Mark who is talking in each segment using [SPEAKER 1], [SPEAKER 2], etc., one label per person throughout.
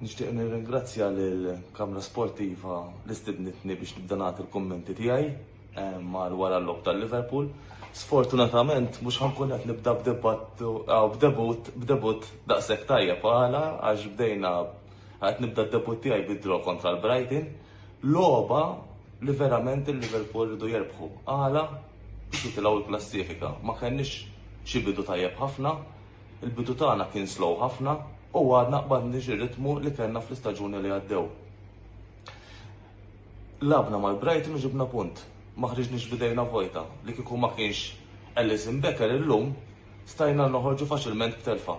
[SPEAKER 1] Nixtieq nirringrazzja lill kamra Sportiva li stidnitni biex nibda nagħti l-kummenti tiegħi eh, mar wara l-lob tal-Liverpool. Sfortunatament mhux ħankun qed nibda b'debatt b'debut b'debut daqshekk tajjeb għala għax bdejna Qed nibda d-debutt tiegħi bid-draw kontra l-Brighton, logħba li verament il-Liverpool rridu jerbħu. Għala? Biex jitilgħu l-klassifika. Ma kellniex xi bidu tajjeb ħafna, il-bidu tagħna kien slow ħafna u għadna qbadniex ir-ritmu li kellna fl-istaġuni li għaddew. Labna mal-Brighton u ġibna punt. Ma ħriġniex bidejna vojta li kieku ma kienx Ellison Becker illum stajna noħorġu faċilment b'telfa.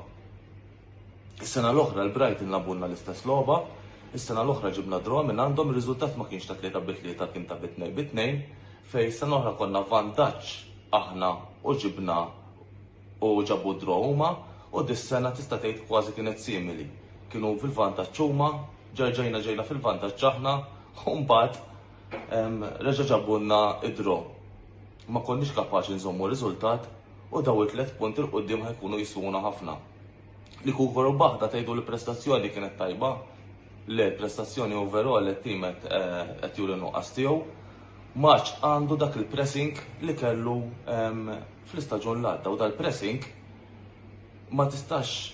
[SPEAKER 1] Is-sena l-oħra l-Brighton lagħbulna l-istess logħba, is-sena l-oħra ġibna draw minn għandhom, ir-riżultat ma kienx ta' tlieta bi tlieta kien ta' bi tnejn bi tnejn, fejn is-sena l-oħra konna f'vantaġġ aħna u ġibna u ġabu draw huma u dis-sena tista' tgħid kważi kienet simili. Kienu fil-vantaġġ huma, ġerġajna ġejna fil-vantaġġ aħna u mbagħad reġa' ġabulna d-draw. ma konniex kapaċi nżommu r-riżultat u dawn it-tliet punti 'l quddiem ħa jkunu jiswuna ħafna. Li Cougar u Baħda tgħidu li prestazzjoni kienet tajba, le prestazzjoni overall li t-tim qed eh, qed juri nuqqas tiegħu. Maċ għandu dak il-pressing li kellu ehm, fl-istaġun l-għadda u dal-pressing ma tistax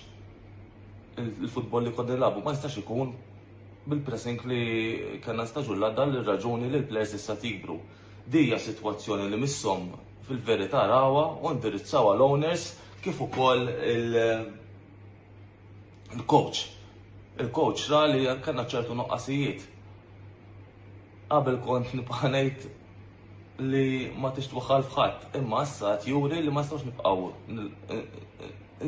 [SPEAKER 1] il-futbol li kod labu ma jistax ikun bil-pressing li kena staġun l-għadda l-raġuni li l-players issa tikbru. Di hija sitwazzjoni li misshom fil-verità rawha u ndirizzawha l-owners kif ukoll il- il-coach. Il-coach ra li kellna ċertu nuqqasijiet. Qabel kont nibqa' ngħid li ma tix twaħħal f'ħadd, imma issa qed juri li ma nistgħux nibqgħu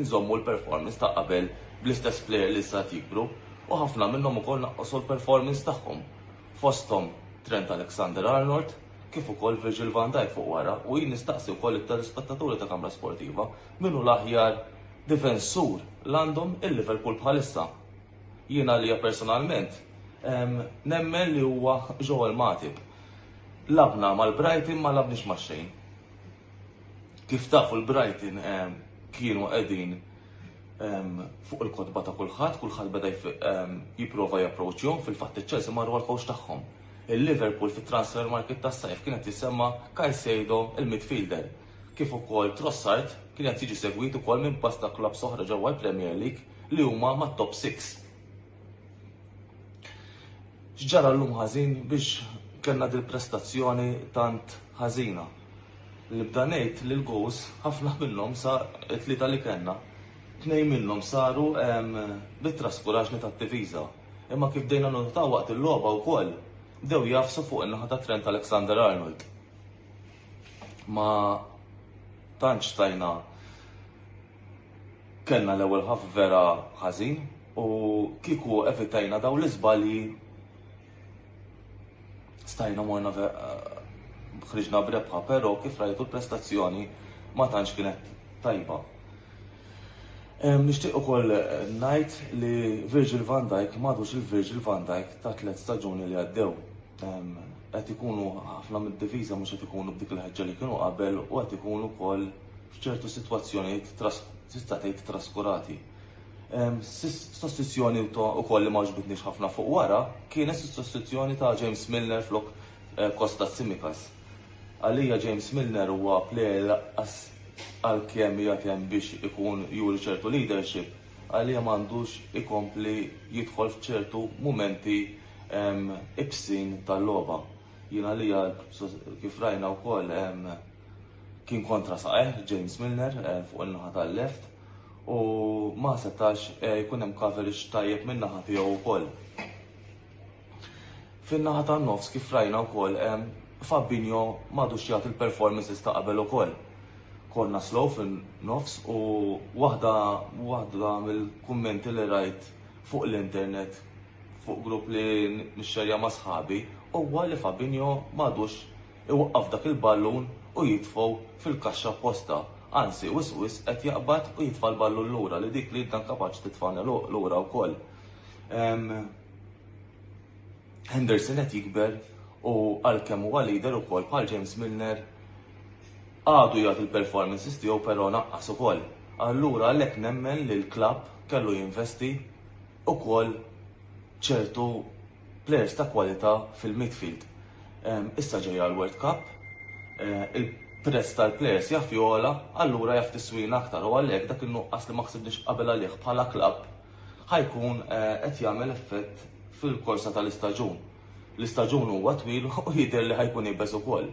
[SPEAKER 1] nżommu l-performance ta' qabel bl-istess plejer li issa qed jikbru u ħafna minnhom ukoll naqqsu l-performance tagħhom. fosthom Trent Alexander-Arnold kif ukoll Virgil van Dijk fuq wara u jien nistaqsi wkoll it-telespettaturi ta' Kamra Sportiva min hu l-aħjar difensur l-għandhom il-Liverpool bħalissa. Jien għalija personalment ehm, nemmen li huwa Joel Matip. Labna mal-Brighton ma labniex ma' xejn. Kif tafu l-Brighton ehm, kienu qegħdin fuq il-kodba ta' kulħadd, kulħadd beda jipprova japproċċjhom fil-fatt iċ-Chelsea marru għal kowx tagħhom. Il-Liverpool fit-transfer market tas-sajf kienet tissemma Caicedo il-midfielder, kif ukoll Trossard kien qed jiġi segwit ukoll minn pasta klabb soħra ġewwa l-Premier League li huma mat-top 6. X'ġara llum ħażin biex kellna dil prestazzjoni tant ħażina. Nibda ngħid li l-gows ħafna minnhom sa t-tlieta li kellna. Tnejn minnhom saru bit-traskuraġni tat-tifiża. Imma kif dejna notaw waqt il-logħba wkoll dew jafsu fuq in-naħa ta' Trent Alexander Arnold. Ma tantx tajna Kellna l-ewwel ħaf vera ħażin u kieku evitajna dawn l-iżbalji stajna morna ħriġna brebħa, però kif rajtu l-prestazzjoni ma tantx kienet tajba. Nixtieq ukoll eh, ngħid li Virgil van Dijk m'għadux il-Virgil van Dijk ta' tliet staġuni li għaddew. Qed ikunu ħafna mid-diviża mhux qed ikunu b'dik il-ħeġġa li kienu qabel u qed ikunu wkoll f'ċertu sitwazzjonijiet tista' tgħid traskurati. Sostituzzjoni wkoll li ma għaġbitniex ħafna fuq wara kienet sostituzzjoni ta' James Milner flok Kosta eh, Tsimikas. Għalija James Milner huwa plejer laqqas għalkemm jagħtem biex ikun juri ċertu leadership, għalija m'għandux ikompli jidħol f'ċertu mumenti ibsin tal-logħba. Jien għalija kif rajna wkoll Kien kontra saqajh James Milner fuq in-naħa tal-left u ma setax jkun hemm coverage tajjeb min-naħa tiegħu wkoll. Fin-naħa tan-nofs kif rajna wkoll Fabinho m'għadux jagħti l-performances ta' qabel ukoll. Konna slow fin-nofs u waħda waħda mill-kummenti li rajt fuq l-internet fuq grupp li nixxerja ma' sħabi huwa li Fabinho m'għadux iwaqqaf dak il-ballun u jitfgħu fil-kaxxa apposta, anzi wisq wisq qed jaqbad u jitfa' l-ballun lura li dik l-id dan kapaċi titfa' l-għeluq lura wkoll. Henderson qed jikber u għalkemm huwa leader ukoll bħal James Milner għadu jagħti l-performances tiegħu però naqqas ukoll. Allura għalhekk nemmen li l-klabb kellu jinvesti ukoll ċertu Players ta' kwalità fil-midfield. Issa ġejja l-World Cup, il-prezz tal-players jaf jogħla, allura jaf tiswina aktar u għalhekk dak in-nuqqas li ma ħsibniex qabel għalih bħala klabb ħa jkun qed jagħmel effett fil-korsa tal-istaġun. L-istaġun huwa twil u jidher li ħa jkun iebes ukoll.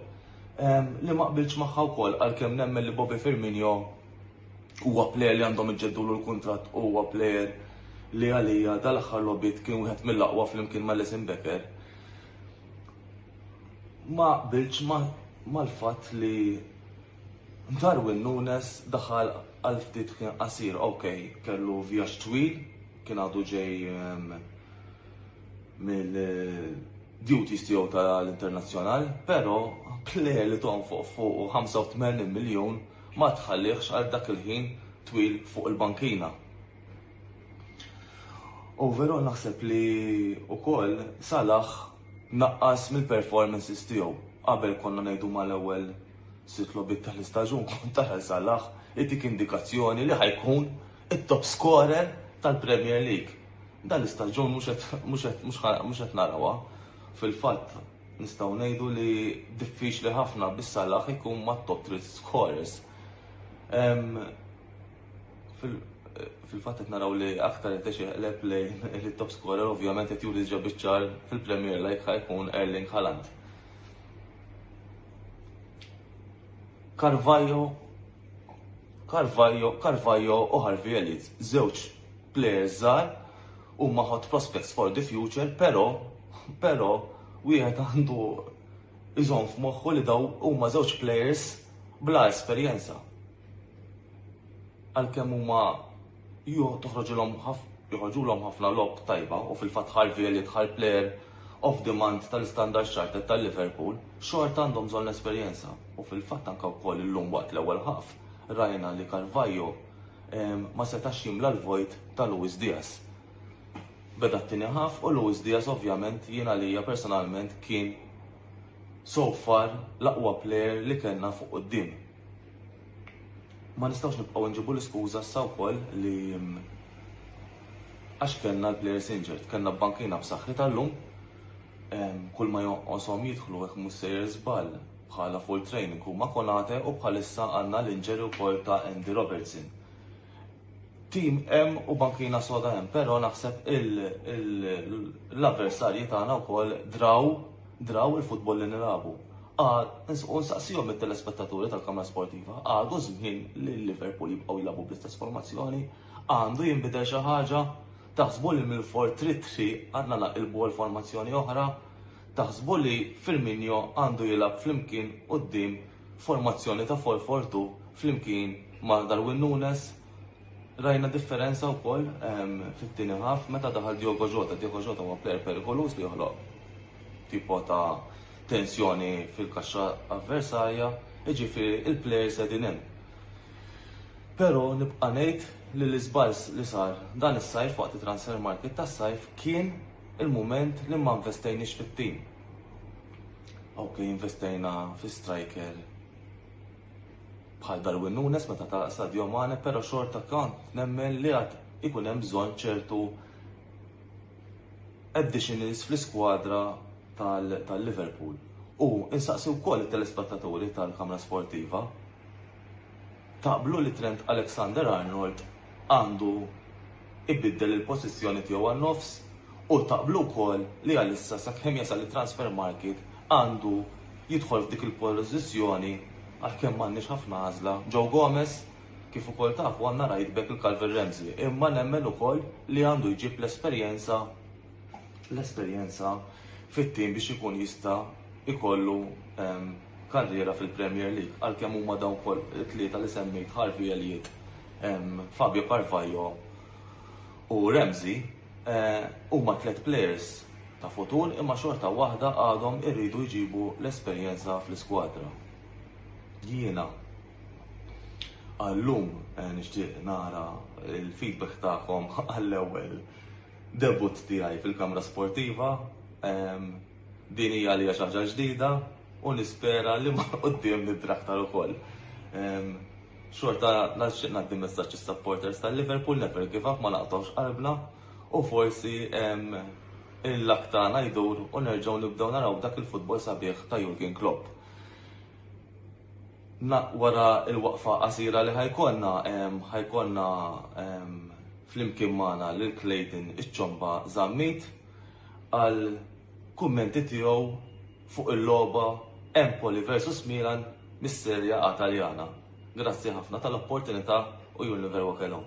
[SPEAKER 1] Li ma qbiltx magħha wkoll għalkemm nemmen li Bobby Firmino Huwa plejer li għandhom iġġeddulu l-kuntratt u huwa plejer li għalija dal-aħħar logħbiet kien wieħed mill-aqwa flimkien ma' Lesin Becker. Ma qbilx mal-fatt li Darwin Nunes daħal għal ftit kien qasir, ok, kellu vjaġġ twil, kien għadu ġej ehm, mill-duties tiegħu tal-internazzjonal, però plejer li tonfoq fuq 85 miljun ma tħallihx għal dak il-ħin twil fuq il-bankina. U veru naħseb li wkoll Salah naqqas mill-performances tiegħu. Qabel konna ngħidu mal-ewwel sitt logħbiet tal-istaġun kont tara Salah itik indikazzjoni li ħajkun it-top scorer tal-Premier League. Dan l-istaġun mhux qed narawha fil-fatt Nistgħu ngħidu li diffiċli ħafna bis Salah ikun ma' top 3 scorers. Fil-fatt qed naraw li aktar qed iqleb lejn il-top scorer ovvjament qed juri ġa biċċar fil-Premier League ħajkun Erling Haaland. Carvajo, Carvajo, Carvajo u Harvey Elliott, żewġ players żgħar Huma hot prospects for the future, però, però, wieħed għandu iżomm f'moħħu li daw huma żewġ players bla esperjenza. Għalkemm huma toħroġilhom joħorġulhom ħafna lob tajba u fil-fatt ħarvi li dħal player of demand tal-Standard Chartered tal-Liverpool, xorta għandhom bżonn l-esperjenza. U fil-fatt anke wkoll illum waqt l-ewwel ħaf rajna li Carvajo ma setax jimla l-vojt ta' Luis Diaz. Beda t-tieni ħaf u Luis Diaz ovvjament jien għalija personalment kien so far l-aqwa player li kellna fuq quddiem. Ma nistgħux nibqgħu nġibu l-iskuża sa wkoll li mm, għax kellna l-players injured, kellna bankina b'saħħitha llum, kull ma jonqoshom jidħlu hekk mhux sejjer żball. bħala full training huma Konate u bħalissa għandna l-injury wkoll ta' Andy Robertson. Tim hemm u bankina soda hemm, però naħseb l-avversarji tagħna wkoll draw draw il-futbol li nilagħbu. U nsaqsihom it-telespettaturi tal-Kamra Sportiva, għadu żmien li Liverpool jibqgħu jilagħbu bl-istess formazzjoni, għandu jinbidel xi ħaġa, taħsbu li mill-for trid tri għandna naqilbu għal formazzjoni oħra, Taħsbu li Firmino għandu jilgħab flimkien quddiem formazzjoni ta' 4-4-2 flimkien ma' Darwin Nunez? Rajna differenza wkoll fit-tieni ħaf meta daħal Diogo Jota. Diogo Jota huwa plejer perikoluż li joħloq tipo ta' tensjoni fil-kaxxa avversarja, jiġifieri il-plejers qegħdin hemm. Però nibqa' ngħid li l-iżball li sar dan is-sajf waqt it-transfer market tas-sajf kien Il-mument li ma nvestejniex fit-tim. Okej, investejna fi striker bħal Darwin Nunes meta ta' Sadio Mane, però xorta kont nemmen li għad ikun hemm bżonn ċertu additionals fl-iskwadra tal-Liverpool. U insaqsi wkoll it-telespettaturi tal-Kamra Sportiva Taqblu li Trent Alexander-Arnold għandu ibiddel il-pożizzjoni tiegħu għan-nofs u taqblu wkoll li għalissa sakemm jasal it-transfer market għandu jidħol f'dik il-pożizzjoni għalkemm m'għandniex ħafna għażla Joe Gomez kif ukoll tafu għandna right back il Calvin Ramsey imma nemmen ukoll li għandu jġib l-esperjenza l-esperjenza fit-tim biex ikun jista' jkollu ehm, karriera fil-Premier League għalkemm huma dawn ukoll it-tlieta li semmejt Harvey Elliott, Fabio Carvalho u Ramsey huma tliet plejers ta' futur imma xorta waħda għadhom iridu jġibu l-esperjenza fl-iskwadra. Jiena għal-lum nixtieq nara l-feedback tagħkom għall-ewwel debutt tiegħi fil-kamra sportiva. Din hija għalija xi ħaġa ġdida u nispera li ma' quddiem nidri aktar ukoll. Xorta nixtieq ngħaddi messaġġ is-supporters tal-Liverpool never give up ma naqtgħux qalbna u forsi il-luck tagħna jdur u nerġgħu nibdew naraw dak il-futbol sabiħ ta' Jurgen Klopp. Wara l-waqfa qasira li ħajkollna ħajkollna flimkien magħna lil Clayton iċ-Ċomba Zammit. għal kummenti tiegħu fuq il-logħba Empoli versus Milan mis-Serja A Taljana. Grazzi ħafna tal-opportunità u jun li verwa kellhom.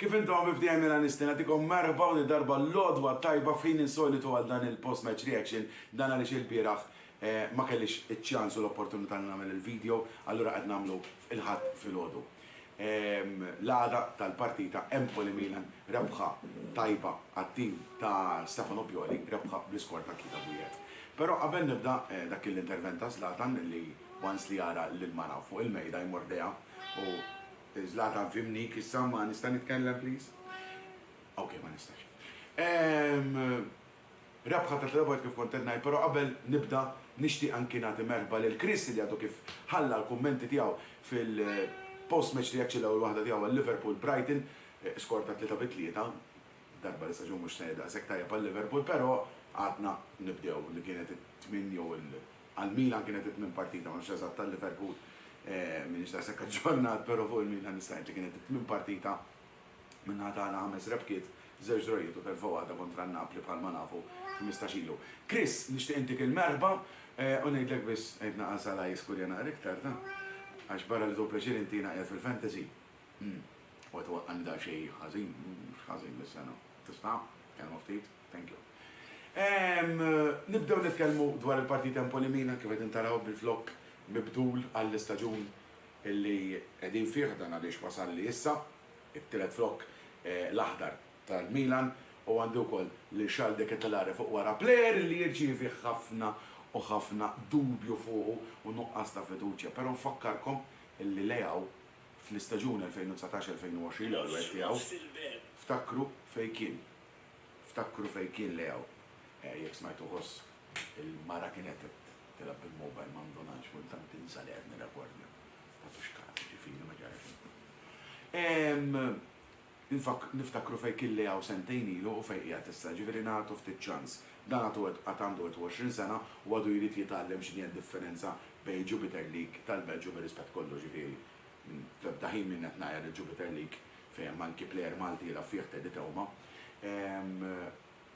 [SPEAKER 2] Kif intom bibdija mela nistin għatikom merba u darba l-lodwa tajba fin insolitu għal dan il-post-match reaction dan għalix il-biraħ eh, ma kellix iċ-ċans u l-opportunità li nagħmel il-video, allura qed nagħmlu il-ħadd fil-ħodu. L-għada tal-partita Empoli-Milan rebħa tajba għat-tim ta' Stefano Pioli, rebħa bl-iskor ta' tlieta b'wieħed. Però qabel nibda, dak kien l-intervent ta' Zlatan li once li jara lill-mara fuq il-mejda jmordiha u Zlatan fimnik issa ma nista' nitkellem please? Ok ma nistax. Rebħa ta' tliet darbiet kif kont qed ngħid, però qabel nibda nixtieq anki nagħti merħba lil Chris li għadu kif ħalla l-kummenti tiegħu fil-post match reaction l-ewwel waħda tiegħu għal Liverpool Brighton, skor ta' tlieta bi tlieta, darba li staġun mhux se daqshekk tajjeb għal Liverpool, però għadna nibdew li kienet it-tmien jew il għal Milan kienet it-tmien partita, ma nafx eżatt għal Liverpool, m'iniex daqshekk aġġornat, però fuq il-Milan nista' ngħid li kienet it-tmien partita. Min-naħa tagħna ħames rebħiet, żewġ drawwiet u telfa waħda kontra n-Napli bħalma nafu ħmistax ilu. Chris, nixtieq intik il-merħba u ngħidlek biss għid naqas għala jiskurja naqra iktar, ta? Għax barra li hu pjaċir inti jiena qiegħed fil-fantasy. U qed iwaqqagħni daqsxejn ħażin, mhux ħażin dis-sena. Tista'? Kelma ftit? Thank you. Nibdew nitkellmu dwar il-partit Empoli-Milan kif qegħdin taraw bil-flokk mibdul għall-istaġun Illi qegħdin fih dan għaliex wasalli issa, it-tielet flokk l-aħdar tal-Milan u għandi wkoll lil Charles de Ketelaere fuq wara, plejer illi jirċievi ħafna u ħafna dubju fuqu u nuqqas ta' fiduċja, però nfakkarkom illi Leao fl-istaġun 2019-2020, l-ewwel wieħed tiegħu, ftakru fejn kien, ftakru fejn kien Leao, jekk smajtuh hoss. Il-mara kienet qed tilgħab bil-mobile ma ndunatx kultant tinsa li qed nirrekordja. Ma tux kas, ġifieri ma ġara xejn. Ehm, niftakru fejn kien li hawn sentejn ilu u fejn qiegħed issa, ġifieri nagħtu ftit ċans. Dan għad għandu 21 sena u għadu jrid jitgħallem x'inhi d-differenza bejn il-Jupiter League tal-Belġju bir-rispett kollu, ġifieri fl-ebda ħin m'jien qed ngħajjar il-Jupiter League fejn hemm anki plejer Malti jilgħab fih Teddy Teuma. Ehm,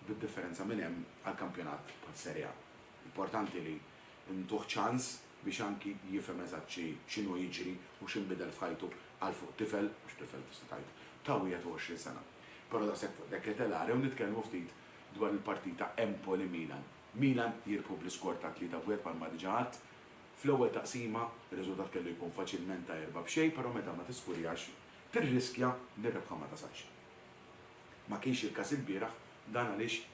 [SPEAKER 2] bid-differenza minn hemm għal kampjonat bħas-Serie A. Importanti li ntuh ċans biex anki jifhem eżatt x'inhu jiġri u x'inbidel f'ħajtu għal fuq tifel, mhux tifel tista' tgħid, ta' 21 sena. Però daqshekk fuq De Ketelaere u nitkellmu ftit dwar il-partita Empoli-Milan. Milan jirbħu bl-iskor ta' 3 b' 1 bħalma diġa għadt. Fl-ewwel taqsima r-riżultat kellu jkun faċilment ta' erba' b'xejn però meta ma tiskurjax tirriskja li r-rebħa ma tasalx. Ma kienx il-każ ilbieraħ, dan għaliex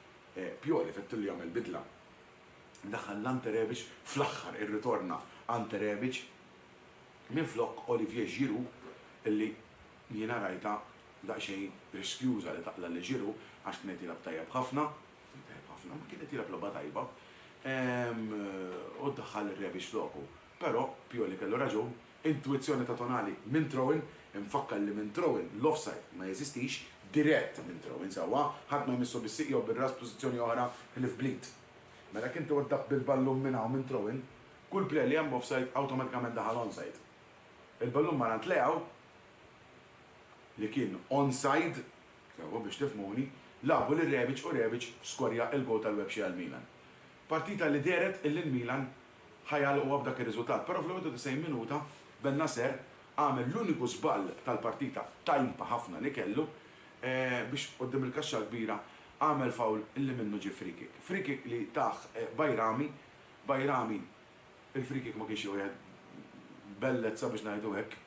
[SPEAKER 2] Pioli fettillu jagħmel bidla. Daħal Ante Rebic fl-aħħar, irritorna Ante Rebic minflok Olivier Giroud li jiena rajtha daqsxejn riskjuża li taqla' lil Giroud għax kien qed jilgħab tajjeb ħafna, tajjeb ħafna, kien qed jilgħab logħba tajba, u ddaħħal lil Rebic floku. Però Pioli kellu raġun Intwizzjoni ta' Tonali minn throw-in, Infakkar li minn throw-in l-offside ma jeżistix, dirett minn throw-in sewwa, ħadd ma jmissu bis-sieq jew bir-ras f'pożizzjoni oħra ħlief bl-id. Mela jekk inti weddaqt bil-ballun minn hawn minn throw-in, kull play li hemm offside awtomatikament daħal onside. Il-ballun mar għand Leao li kien onside sewwa biex tifhmuni, lagħbu lil Rebic u Rebic skorja l-goal tal-webxie għal Milan. Partita li dehret illi l-Milan ħa jagħlquha b'dak ir-riżultat, però fl-91 minuta Bennacer għamel l-uniku żball tal-partita tajba ħafna li kellu biex quddiem il-kaxxa l-kbira għamel foul li minnu ġie free kick. Free kick li tah Bajrami, Bajrami il-free kick ma kienx jieħu qiegħed b'bellezza biex ngħidu hekk,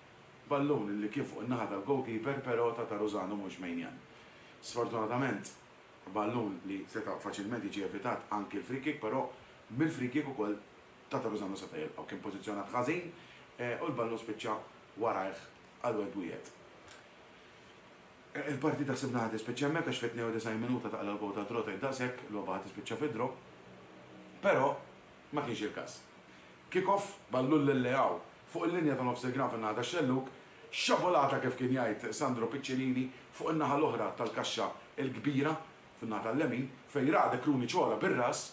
[SPEAKER 2] ballun li kien fuq in-naħa tal-goalkeeper però ta' Taruzano mhux Maignan. Sfortunatament. Ballun li seta' faċilment jiġi evitat anki l-free kick però mill-free kick ukoll ta' Torresano seta' jilqgħu. Kien pożizzjonat ħażin u l-ballun spiċċa warajh għal Wade Bouillet. Il-partita sibnaha tispiċċa hemmhekk għax fit-92 minuta taqla' l-gowl ta' draw tgħid daqshekk, logħba ħa tispiċċa fi draw. Però ma kienx il-każ. Kick-off, ballun lil Leao fuq il-linja ta' nofs il-ground fin-naħa tax-xellug, Sciabolata kif kien jgħid Sandro Piccinini fuq in-naħa l-oħra tal-kaxxa l-kbira, fin-naħa tal-lemin, fejn ra De Cruni ċola bir-ras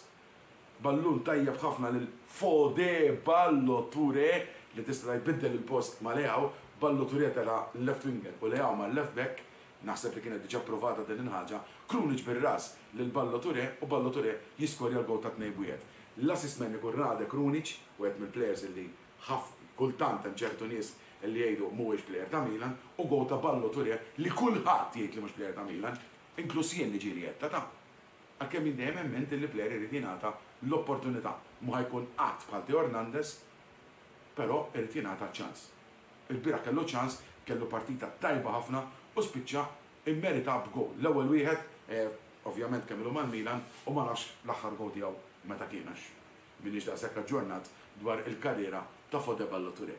[SPEAKER 2] ballun tajjeb ħafna lil Fode Ballo Touré li tista' jbiddel il-post ma' Leao, Ballo Touré tela' left winger u Leao mar left back, naħseb li kienet diġà pprovata din il-ħaġa, Krunic bir-ras lil Ballo Touré u Ballo Touré jiskorja l-gowl tat-tnejn b'wieħed. L-assist man ikun Rade Krunic, wieħed mill-players li ħaf, kultant hemm ċertu nies li jgħidu mhuwiex plejer ta' Milan u gowl ta' Ballo Touré li kulħadd jgħid li mhux plejer ta' Milan, inkluż jien li ġieli jettata. Għalkemm jien dejjem emmint li plejer irid jingħata l-opportunità, mhu ħa jkun qatt bħal Theo Hernandez, però irid jingħata ċ-ċans. Ilbieraħ kellu ċ-ċans, kellu partita tajba ħafna u spiċċa immerita b'gowl, l-ewwel wieħed, ovvjament kemm ilu mal-Milan u ma nafx l-aħħar gowl tiegħu meta kien għax M'iniex daqshekk aġġornat dwar il-karriera ta' Fode Ballo-Touré.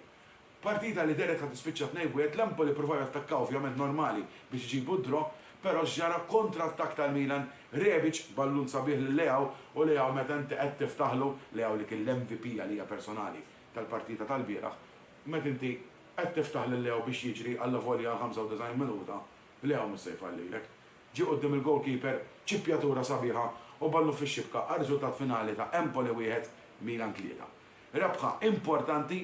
[SPEAKER 2] Partita li dehret ħa tispiċċa tnejn f'wieħed, l-Empoli ppruvaw jattakkaw ovvjament normali biex iġibu d-draw, però x'ġara kontrattakk tal-Milan, Rebic ballun sabiħ lil Leao u Leao meta inti qed tiftaħlu, Leao li kien l-MVP għalija personali tal-partita tal-bieraħ, meta inti qed tiftaħ lil Leao biex jiġri allavolja għal 95 minuta, Leao mhux se jfallilek. Ġie quddiem il-goalkeeper, ċippjatura sabiħa u ballun fix-xibka għar-riżultat finali ta' Empoli wieħed, Milan tlieta. Rebħa importanti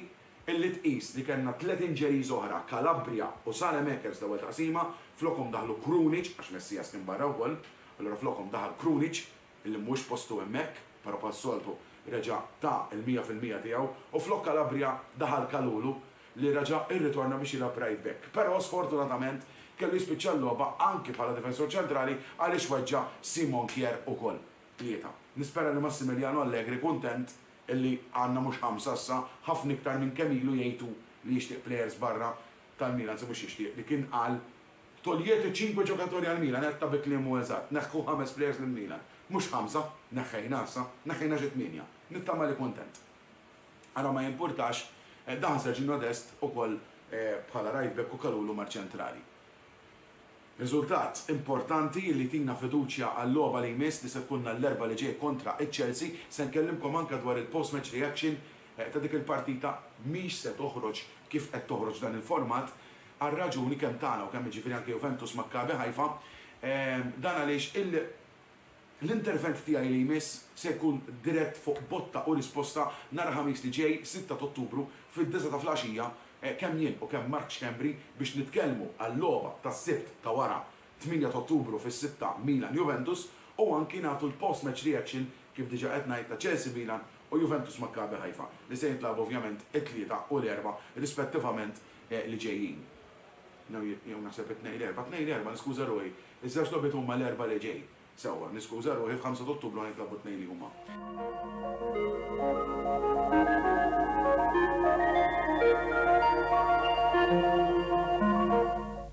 [SPEAKER 2] illi tqis li kellna tliet injuries oħra, Calabria u Saelemaekers l-ewwel taqsima, flokhom daħlu Krunic, għax Messias kien barra wkoll, allura flokhom daħal Krunic illi mhuwiex postu hemmhekk, però bħas-soltu reġa' ta l-mija fil-mija tiegħu u flok Calabria daħal Kalulu li reġa' rritorna biex jilgħab right back. Però sfortunatament kellu jispiċċa l-logħba anki bħala difensur ċentrali għaliex weġġa' Simon Kjaer ukoll. Tlieta. Nispera li Massimiliano Allegri kuntent illi għandna mhux ħamsa issa, ħafna iktar minn kemm ilu jgħid hu li jixtieq players barra tal-Milan se mhux jixtieq li kien qal Toglietu ċinkwe ġokatori għal Milan, għedtha bi kliem mhu eżatt, neħħu ħames plejers lil Milan. Mhux ħamsa, neħħejna issa, neħħejna xi tmienja. Nittama li kuntent. Ara ma jimpurtax, daħal Serginho Dest ukoll bħala right back u Kalulu mar ċentrali. Riżultat importanti li jtina fiduċja għal-logħba li jmiss li se tkunna l-Erbgħa li ġej kontra ċ-Chelsea. Se nkellimkom anke dwar il-post match reaction ta' dik il-partita mhix se toħroġ kif qed toħroġ f'dan il-format għar-raġuni kemm tagħna u kemm jiġifieri anke Juventus Maccabi Haifa, dan għaliex l-intervent tiegħi li jmiss se jkun dirett fuq botta u risposta nhar il-Ħamis li ġej, sitta t'Ottubru, fid-disgħa ta' filgħaxija, kemm jien u kemm Mark Schembri biex nitkellmu għal-logħba tas-Sibt ta' wara 8 t'Ottubru fis-sitta Milan Juventus u anki nagħtu l-post match reaction kif diġa qed ngħid ta' Chelsea Milan u Juventus Maccabi Haifa li se jintlagħbu ovvjament it-Tlieta u l-Erbgħa rispettivament li ġejjin. Jew naħseb it-Tnejn l-Erbgħa, Tnejn l-Erbgħa niskuża ruħi. Iż-żewġ logħbiet huma l-Erbgħa li ġej. Sewwa, niskuża ruħi f'5 t'Ottubru ħa jintlagħbu t-tnejn li huma.